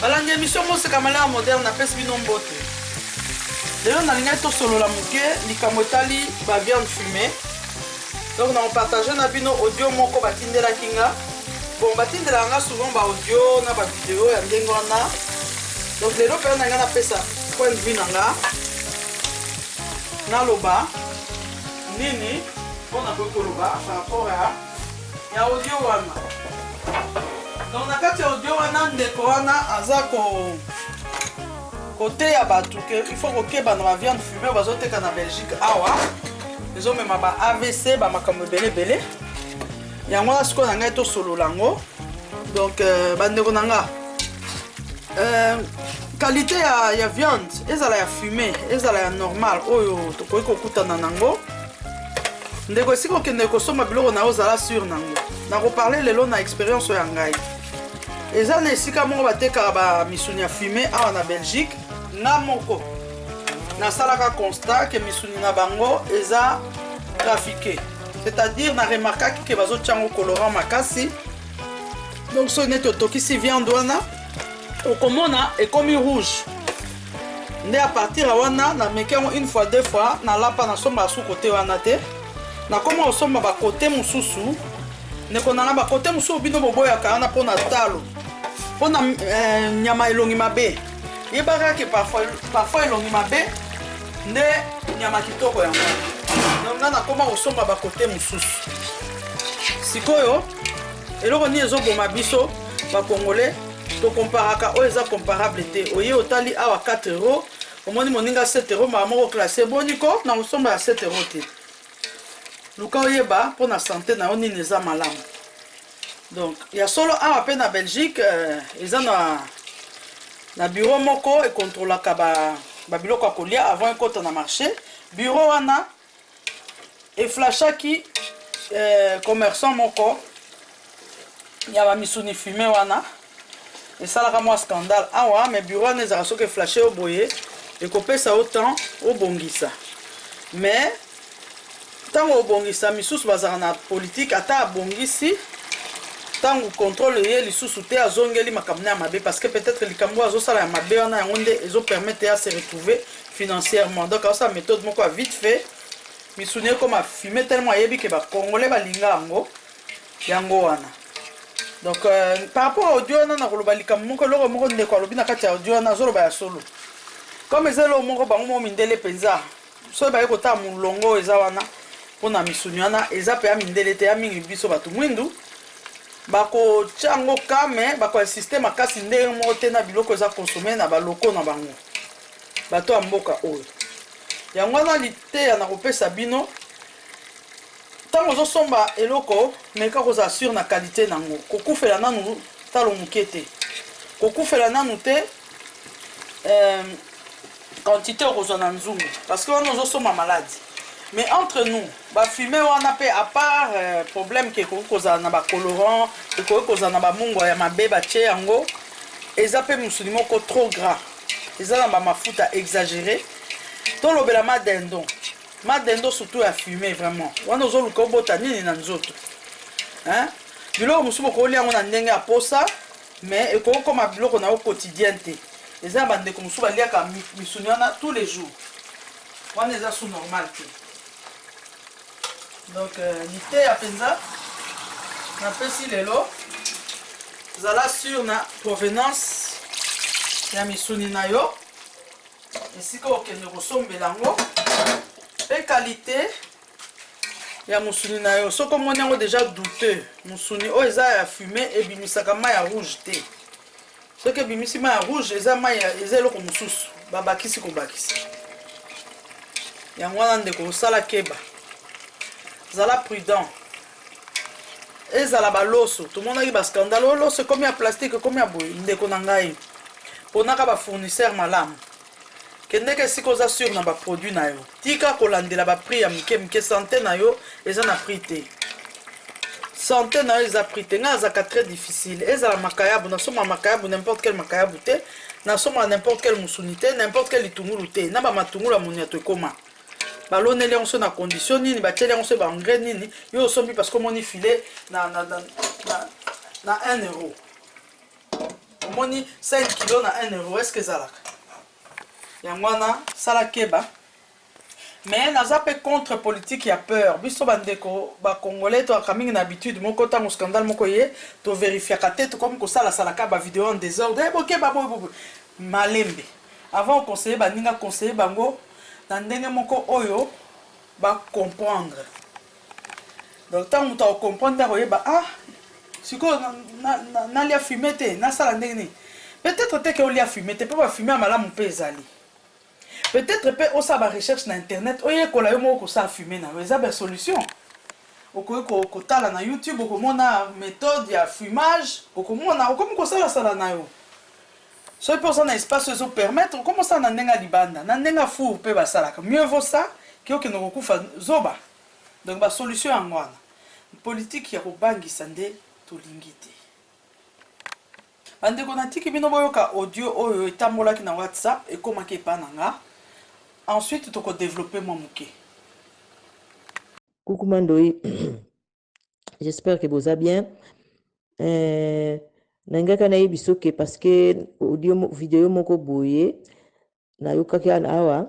Balandi emission Moseka Malheur Moderne napesi bino mbote. Lelo nalingaki tosolola moke likambo etali ba viande fumee. Donc na partage na bino audio moko batindelaki nga. Bon batindelaka nga souvent ba audio na ba video ya ndenge wana. Donc lelo mpenza na nga napesa point de vue na nga naloba nini mpo nakoki koloba par rapport ya ya audio wana donc na kati ya audio wana ndeko wana aza ko koteya bato ke il faut kokeba na ba viande fume bazoteka na belgique awa ezomema ba avc bamakambo ebele ebele yango wana sikoyo na ngai tosolola yango donc euh, bandeko na nga euh, qualité ya, ya viande ezala ya fume ezala ya normal oyo tokoki kokutana nango ndeko esika okendeke kosomba biloko na yo ozala sur nango nakoparle lelo na experience oyo ya ngai eza na esika moko batekaka bamisuni ya fume awa na belgique nga moko nasalaka constat ke misuni na bango eza trafiqué c'est-à-dire na remarkaki ke bazotya yango colorant makasi donc soki neti otokisi viande wana okomona ekomi rouge nde a partir ya wana na meki yango une fois deux fois na lapa na somba su kote wana te na koma kosomba bakote mosusu ndeko nanga bakote mosusu bino boboyaka wana mpo na talo mpo na eh, nyama elongi mabe yebaka ke parfois elongi mabe nde nyama kitoko yango donc nga nakoma kosomba bakote mosusu sikoyo eloko nini ezoboma biso bakongole To comparaka oyo eza comparable te. Oye otali awa 4 euros, omoni moninga 7 euros mara moko classe boni ko na kosomba ya 7 euros te. Luka oyeba mpo na sante na yo nini eza malamu. Donc ya solo awa mpe na Belgique euh, eza na na bureau moko ekontrolaka ba, ba biloko ya kolia avant ekota na marché. Bureau wana eflashaki eh, commerçant moko ya bamisuni fume wana esalaka mwa scandale awa me bureau wana ezalaka soki eflashe yo boye ekopesa yo temps obongisa mais ntango obongisa misusu bazalaka na politike ata abongisi ntango contrôle eye lisusu te azongeli makambo na ya mabe parce que peut-être likambo oyo azosala ya mabe wana yango nde ezopermettre ya se retrouver financièrement donc aosala méthode moko ya vite fait misuni ekoma fume tellement ayebi ke bacongolais balinga yango yango wana donc euh, par rapport audio wana nakoloba likambo moko eloko moko ndeko alobi na kati ya audio wana azoloba ya solo comme eza eloko moko bango moko mindele mpenza soki baye kotala molongo oyo eza wana mpona misuni wana eza mpe ya mindele te ya mingi biso bato mwindu bakotya yango kame bakoinsiste makasi ndenge moko te na biloko eza konsome na baloko na bango bato ya mboka oyo yango wana liteya na kopesa bino ntango ozosomba eloko meka kozala sur na kalite na yango kokufela nanu talo moke te kokufela nanu te euh, quantité okozwa na nzungu parce que wana ozosomba maladi mais entre nous bafume wana mpe apart euh, problème ke ekoki kozala na bacolorant ekoki kozala na bamungwa ya mabe batye yango eza mpe mosuni moko trop gras eza na ba mafuta exagere tolobela ma dindon ma dindon surtout ya fume vraiment wana ozoluka obota nini na nzoto hein? biloko mosusu bokolia yango na ndenge ya posa mais ekoki koma biloko na yo quotidien te eza na bandeko mosusu baliaka misuni wana tous les jours wana eza su normal te donc euh, liteya mpenza napesi lelo zala sur na provenance ya misuni na yo esika okende kosombela yango mpe kalite ya mosuni na yo soki omoni yango deja douteux mosuni oyo eza ya fume ebimisaka mai ya rouge te Soki ebimisi mayi ya rouge eza mayi eza eloko mosusu babakisi kobakisa. Yango wana ndeko osala keba, zala prudent. Ezala baloso tomonaki ba scandale oyo oh, loso ekomi ya plastique ekomi ya boye, ndeko na ngai ponaka ba fournisseur malamu. Kendeke esika oza sur na ba produit nayo. Tika kolandela ba prix ya mike mike sante nayo eza na prix te. Sante nayo eza prix te. Nga azaka très difficile. Ezala makayabu na soma makayabu n'importe quel makayabu te. Na soma n'importe quel musuni te, n'importe quel litungulu te. Na ba matungulu ya moni ya tokoma. baloneli yango so na condition nini batieli yango so baengrais nini yo osombi parce que omoni filet na, na, na, na, na 1 euro omoni 5 kilo na 1 euro eske ezalaka yango wana sala keba mais naza mpe contre politique ya peur biso bandeko bacongolais toyaka mingi na habitude moko ntango scandale moko ye toverifiaka te tokomi kosalasalaka bavideo en désordre eh, bokeba boyebobo malembe avant oconseille baninga conseille bango na ndenge moko oyo bacomprendre Donc tango moto ako comprendre nde akoyeba ah sikoyo nalia fume te nasala ndenge nini peut-être te ke olia fume te mpe ba fume ya malamu mpe ezali peut-être mpe osala ba recherche na internet oyekola yo moko kosala fume na yo eza ba solution okoki kotala na youtube okomona méthode ya fumage okomona okomi kosalasala na yo Soki pe oza na espace oyo ezo permettre, okoma osala na ndenge ya libanda, na ndenge ya four pe basalaka, mieux vaut ça que okende kokufa zoba. Donc ba solutions yango wana. Politique ya kobangisa nde tolingi te. Ba ndeko natiki bino boyoka audio oyo etambolaki na WhatsApp, ekomaki epai na nga. Ensuite toko developper mwa moke. Coucou ma ndoyi j'espère que boza bien euh, nalingaka nayebi soki parce que audio video moko boye nayokaki ana awa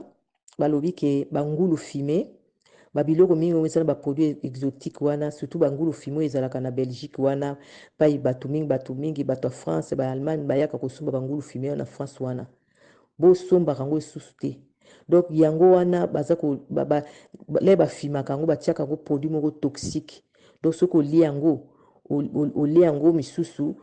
balobi ke bangulu fime babiloko mingi oyo ezala baproduit exotique wana surtout bangulu fime oyo ezalaka na belgique wana pai bato mingi bato mingi bato ya france baallemagne bayaka kosomba bangulu fime wana na france wana bosombaka yango lisusu te donc yango wana baza ko ba, ba, ba, le bafimaka yango batiaka yango produit moko toxique donc soki olie yango olie yango misusu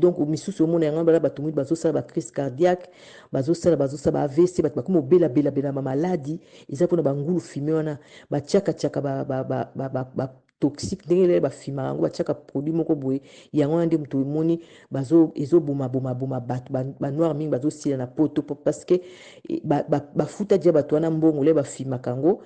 donc misusu omona yango bala bato mingi bazosala bacrise cardiaque bazosala bazosala ba avc bato bakomi obelabelabela bamaladi eza mpona bangulu fime wana batiaka tiaka ba, ba, ba, ba, ba, ba toxique ndenge lele ba fima yango ba tiaka produit moko boye yango wana nde moto emoni bazo ezo boma boma boma bato ba, ba noir mingi bazo sila na poto parce que eh, ba, ba, ba futa dia bato wana mbongo le ba fima kango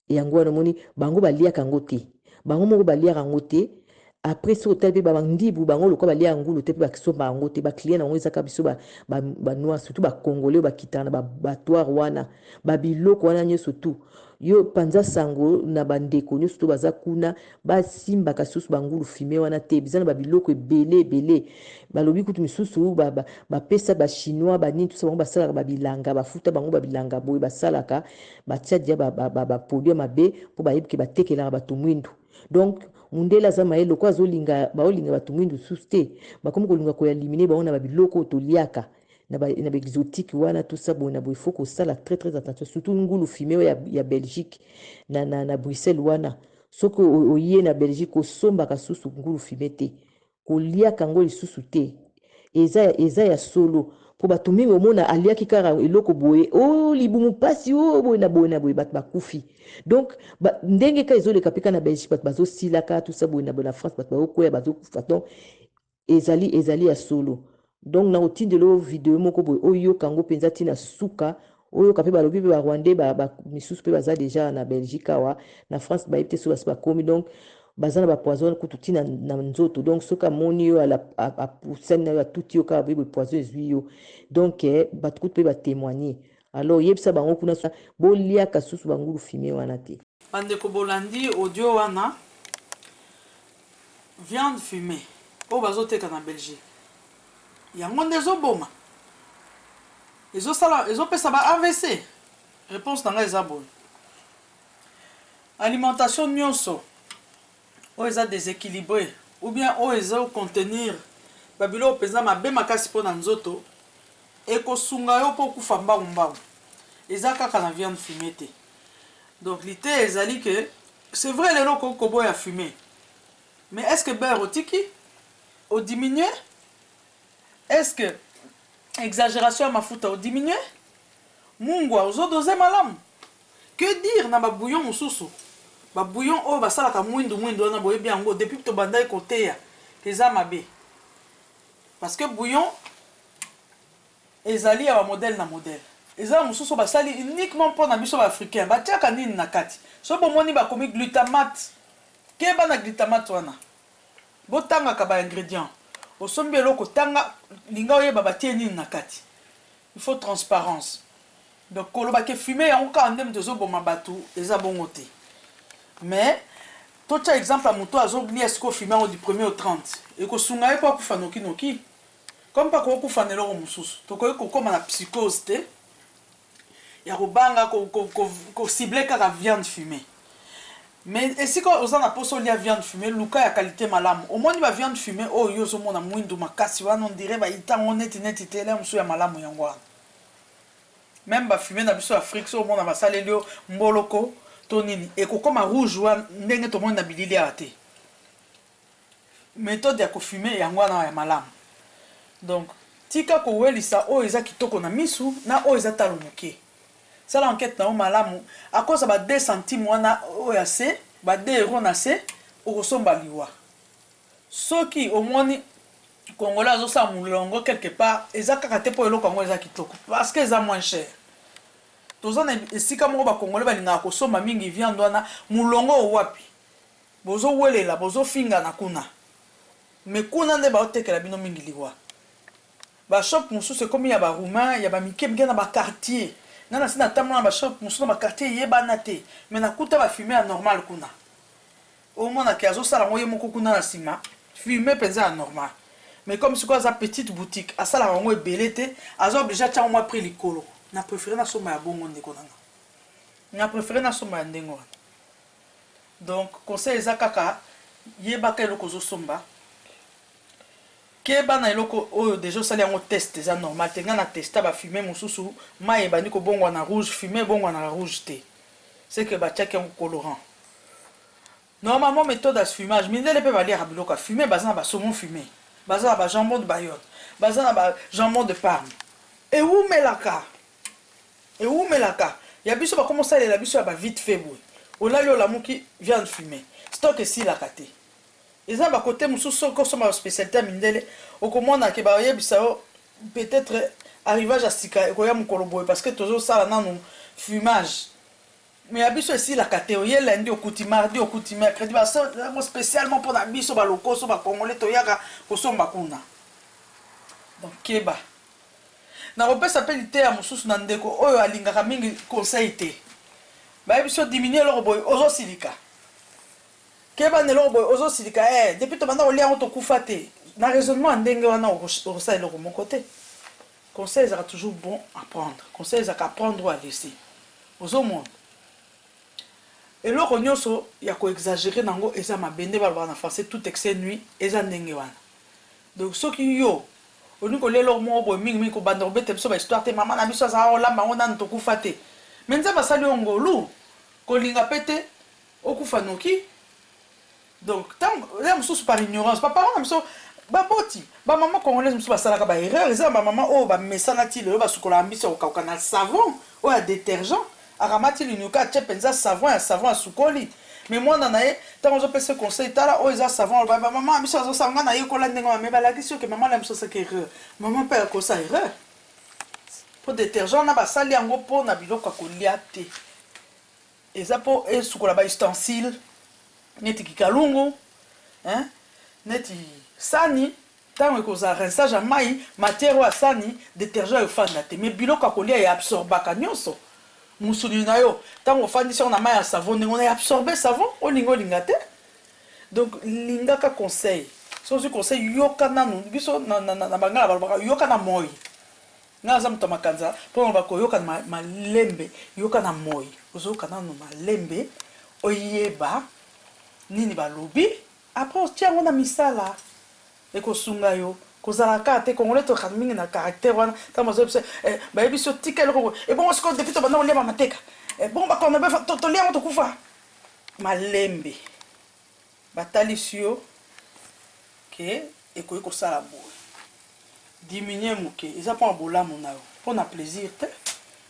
yango wana omoni bango ba liaka yango te bango moko ba liaka yango te après soki otali mpe bandibu bango lokola balia ya ngulu te mpe bakisomba yango te baclient na yango ezaka biso banoir surtout bacongolais oyo bakitaka na batoire wana babiloko wana nyonso tout Yo panza sango na ba ndeko nioso to baza kuna ba simbaka susu ba ngulu fume wana te biza na ba biloko ebele ebele balobi kutu misusu ba ba pesa ba chinois ba nini tusa bango basalaka ba bilanga ba futa bango ba bilanga boye basalaka ba tia dia ba ba ba produit mabe po ba yebike ba tekelaka batu mwindu donc mundele aza maye loko azolinga baolinga batu mwindu susu te bakomi kolinga ko ya limine bango na ba biloko toliaka na ba na ba exotique wana tout ça boye na boye faut kosala très très attention surtout ngulu fume oyo ya, ya Belgique na, na, na Bruxelles wana soki oye na Belgique osombaka susu ngulu fume te koliaka yango lisusu te eza, eza ya solo mpo bato mingi omona aliaki kaka eloko boye o oh, libumu mpasi o oh, boye na boye na boye bato bakufi donc ba, ndenge ka ezoleka mpe ka na belgique bato bazosilaka tusa boye na, na france bato bazokwea bazokufa donc Ezali ezali ya solo donc nako tindela yo video moko boye oyoka yango penza ti na suka oyoka pe balobi pe ba rwandais ba, ba misusu pe baza deja na Belgique awa na France bayebi te soki basi bakomi donc baza na ba poison kutu ti na, na nzoto donc soki amoni yo ala apusani na yo atuti yo kaka boye boye poison ezwi yo donc eh, bato kutu pe ba témoigner Alors yebisa bango kuna bo liaka susu ba ngulu fume wana te. Ba ndeko bolandi audio wana viande fume oyo bazo teka na Belgique yango nde ezo boma? Ezo sala ezo pesa ba avc? Reponse na nga eza boye alimentation nioso Oyo eza desequilibre ou bien oyo ezo contenir ba biloko penza mabe makasi po na nzoto, eko sunga yo po okufa mbangu mbangu. Eza kaka na viande fumee te. Donc liteya ezali que c'est vrai lelo okoki ko boya fumee mais est ce que beurre otiki? O diminuer? Est ce que exageration ya mafuta o diminuer? Mungwa ozo doser malamu? Que dire na ba bouillon mususu? Ba bouillon oyo basalaka muindu muindu wana boyebi yango depuis tobandaki koteya que eza mabe? Parce que bouillon ezali ya ba modèle na modèle. Eza ya mususu basali uniquement pona biso ba africains. Batiaka nini na kati? Soki bomoni bakomi glutamate, keba na glutamate wana. Botangaka ba ingredients. Osombi eloko tanga, linga oyeba batie nini na kati. Il faut transparence. Donc koloba ke fume yango kaka nde mutu ezo boma batu eza bongo te mais to tia exemple ya mutu oyo azo lia sikoyo fume yango du premier au 30 eko sunga ye po akufa noki noki? Comme pe akoki kufa na eloko mususu tokoki ko koma na psychose te ya ko banga ko cibler kaka viande fume mais esika oza na posa olia viande fume luka ya qualite malamu omoni ba viande fume oyo yo ozo mona muindu makasi wana on dirait ba ita yango neti neti te lia mususu ya malamu yango wana Meme ba fumes na biso ya Afrique soki omona basaleli yo mboloko to nini ekokoma rouge wan ndenge tomoni na bilili awa te. Methode ya ko fumer yango wana ya malamu. Donc tika kowelisa oyo eza kitoko na misu na oyo eza talo moke. Sala enquete na yo malamu à cause ya ba deux centimes wana oyo ya se, ba deux euros na se okosomba liwa. Soki omoni. Congolais azo sala mulongo quelque part eza kaka te po eloko yango eza kitoko parce que eza moins cher. Toza na esika moko ba congolais balingaka kosomba mingi viande wana mulongo oyo wapi? Bozo welela bozo fingana kuna mais kuna nde bao tekela bino mingi liwa. Ba shop mususu ekomi ya ba roumain ya ba mike mike na ba quartier. Nga nasi natambola na ba shop mususu na ba quartier eyebana te mais nakuta ba fume ya normal kuna. Omona ke azosala yango ye moko kuna na sima fume penza ya normal mais comme sikoyo aza petite boutique asalaka yango ebele te aza oblige atia yango mwa prix likolo na prefere nasomba ya bongo ndeko na nga na prefere nasomba ya ndenge wana donc conseil eza kaka yebaka eloko ozosomba keba na eloko oyo deja osali yango test eza normal te nga na testa ba fume mosusu mai ebandi kobongwa na rouge fume ebongwa na rouge te seke batiaki yango colorant Normalement methode ya fumage mindele pe baliaka biloko ya fume baza na ba saumon fume baza na ba jambon de bayotte baza na ba jambon de parme ewumelaka ewumelaka ya biso bakoma osalela biso ya ba vite fait boye olali olamuki viande fume stock esilaka te eza na ba cote mosusu soki osomba ba specialité ya mindele okomona ke bayebisa yo peut-être arrivage ya sika ekoya mokolo boye parce que tozosala nanu fumage Mais ya biso esilaka te oye lundi okuti mardi okuti mercredi ba solda yango specialement pona biso ba lokoso ba congolais toyaka kosomba kuna donc keba nakopesa pe liteya mosusu na ndeko oyo alingaka mingi conseil te baye biso diminuer eloko boye ozosilika keba na eloko boye ozosilika eh depuis tobanda kolia yango tokufa te na raisonnement ya ndenge wana okosala eloko moko te Conseil ezalaka toujours bon à prendre conseil ezalaka à prendre ou à laisser ozo mona eloko nioso ya ko exagerer na ngo eza mabe nde balobaka na français tout excès nuit eza ndenge wana donc soki yo olingi kolia eloko moko boye mingi mingi kobanda kobeta biso ba histoire te maman na biso azalaka kolamba yango nanu tokufa te mais nzambe asali yo ngolu kolinga pe te okufa noki. Donc tango ya mosusu par ignorance ba parents na biso ba boti ba maman congolaise mosusu ba salaka ba erreur eza na ba maman oyo ba mesana ti lelo ba sukolaka mbisi ya kokauka na savon oyo ya detergent akamati linuka atie penza savon ya savon asukoli mais mwana na ye tango ozo pesa ye conseil tala oyo eza savon aloba ba maman na biso bazo sala nga na yekola ndenge wana mais ba lakisi yo ke maman na biso asalaki erreur maman pe akoki kosala erreur po detergent wana ba sali yango po na biloko ya kolia te. Eza po esukola ba ustensiles neti kikalungu hein neti sani tango ekozala rinsage ya mayi matière oyo ya sani detergent efanda te mais biloko ya kolia e absorbaka nionso musuni na yo tango ofandisi yango na mayi ya savon ndenge wana e absorber savon olinga olinga te donc lingaka conseil soki ozui conseil yoka nanu biso na bangala balobaka yoka na moyi. Nga naza moto ya makanza po naloba koyoka malembe yoka na moyi ozoyoka nanu malembe oyeba nini balobi après otie yango na misala ekosunga yo kozala kaka te congolais tozalaka mingi na caractère wana tango bazoya biso eh bayebisi yo tika eloko boye ebongo sikoyo depuis tobanda kolia ba mateka eh bongo ba corne beef tolia yango tokufa malembe. Batalisi yo que ekoki kosala boye. Diminuer muke, eza pona bolamu na yo, pona plaisir te.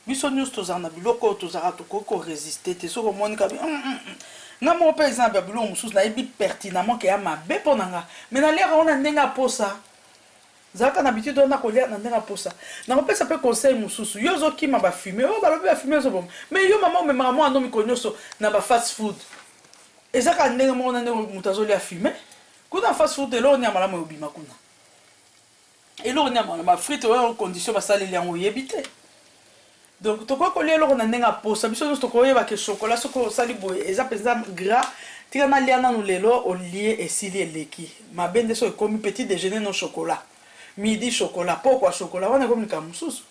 Biso nionso tozalaka na biloko oyo tozalaka tokoki ko resister te. Soki omoni kaka hum hum hum. Nga moko pe exemple ya biloko mususu nayebi pertinemment que ea mabe pona nga mais naliaka ngo na ndenge ya posa. Zalaka na habitude wana kolia na ndenge ya posa. Nakopesa pe conseil mususu. Yo ozo kima ba fume. Oh balobi ba fume ezo boma. Mais yo maman omemaka mwana no mikolo nioso na ba fast food. Eza kaka ndenge moko na ndenge mutu azo lia fume. Kuna na fast food eloko nini ya malamu ekobima kuna? Eloko nini ya malamu? Ba frites oyo condition basaleli yango oyebi te. Donc tokoki kolia eloko na ndenge ya posa biso nionso tokoyeba ke chocolat soki osali boye eza penza gras tika nalia nanu lelo olie esili eleki mabe nde soki ekomi petit dejeuner no chocolat midi chocolat pokua chocolat wana ekomi likambo mosusu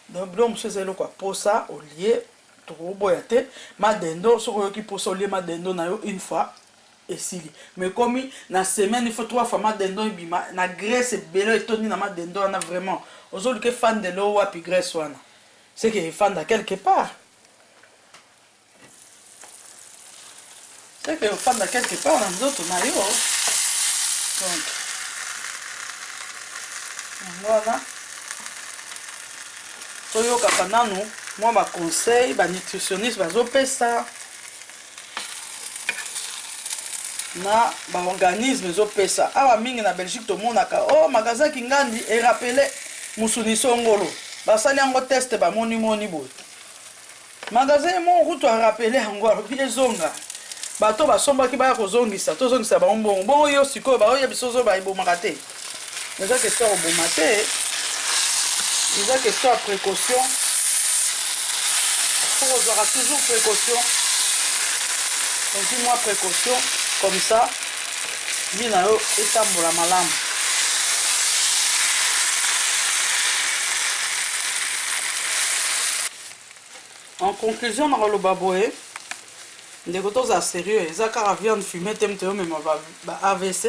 donc biloko mosusu eza eloko ya posa olie tokoboya te ma dendo soki oyoki posa olie ma dendo na yo une fois Esili mais ekomi na semaine il faut trois fois ma dindon ebima na graisse ebele etondi na ma dindon wana vraiment ozo luka efandele yo wapi graisse wana ce que efanda quelque part ce que efanda quelque part na nzoto na yo donc yango wana toyokaka nanu mwa ba conseil ba nutritionniste bazopesa na baorganisme ezopesa awa mingi na belgique tomonaka o oh, magasin kingandi erapele mosuni songolo basali yango teste bamonimoni boye magasin ye moko kutu arapele yango alobi ezonga bato basombaki baya kozongisa tozongisa bango mbongo bongo yo sikoyo baoyebiso ozoba ebomaka te Eza question ya koboma te, eza question ya precaution. Faut kozwaka toujours precaution, ozwi mwa precaution comme ça vie na yo etambola malamu. En conclusion, nakoloba boye ndeko tozala sérieux, eza kaka viande fumée te moto yomema ba, ba AVC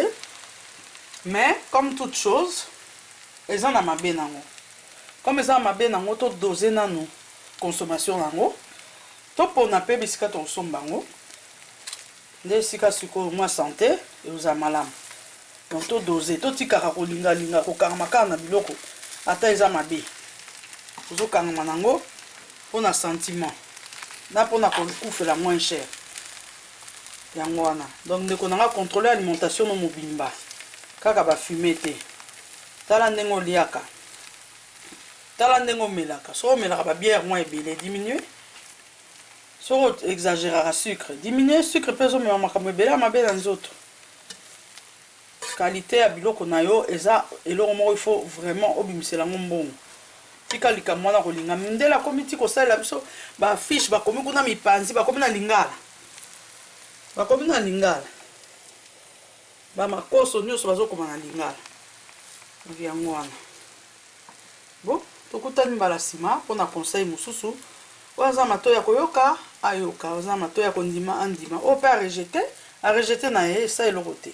Mais comme toute chose eza na mabe nango comme eza na mabe nango to doser nanu consommation nango to pona pe bisika toko somba yango nde esika sikoyo mua sante ekozala malamu donc to doser to tikaka ko linga linga ko kangama kaka na biloko ata eza mabe ozo kangama nango pona sentiment na pona ko kufela moins cher Yango wana donc ndeko na nga controler alimentation no mobimba kaka ba fume te tala ndenge oliaka tala ndenge omelaka soki omelaka ba bière mwa ebele diminuer soki o exageraka sucre diminuer sucre mpe ezomema makambo ebele ya mabe na nzoto Qualite ya biloko na yo eza eloko moko il faut vraiment obimisela yango mbongo. Tika likambo wana ko linga mindele akomi ti kosalela biso ba affiche bakomi kuna mipanzi bakomi na lingala bakomi na lingala ba makoso nioso bazo koma na lingala donc yango wana. Bon tokutani mbala sima pona conseil mususu oyo aza na matoyi yako yoka ayoka oyo aza na matoyi yako ndima andima oyo pe a rejete a rejete naye esali eloko te.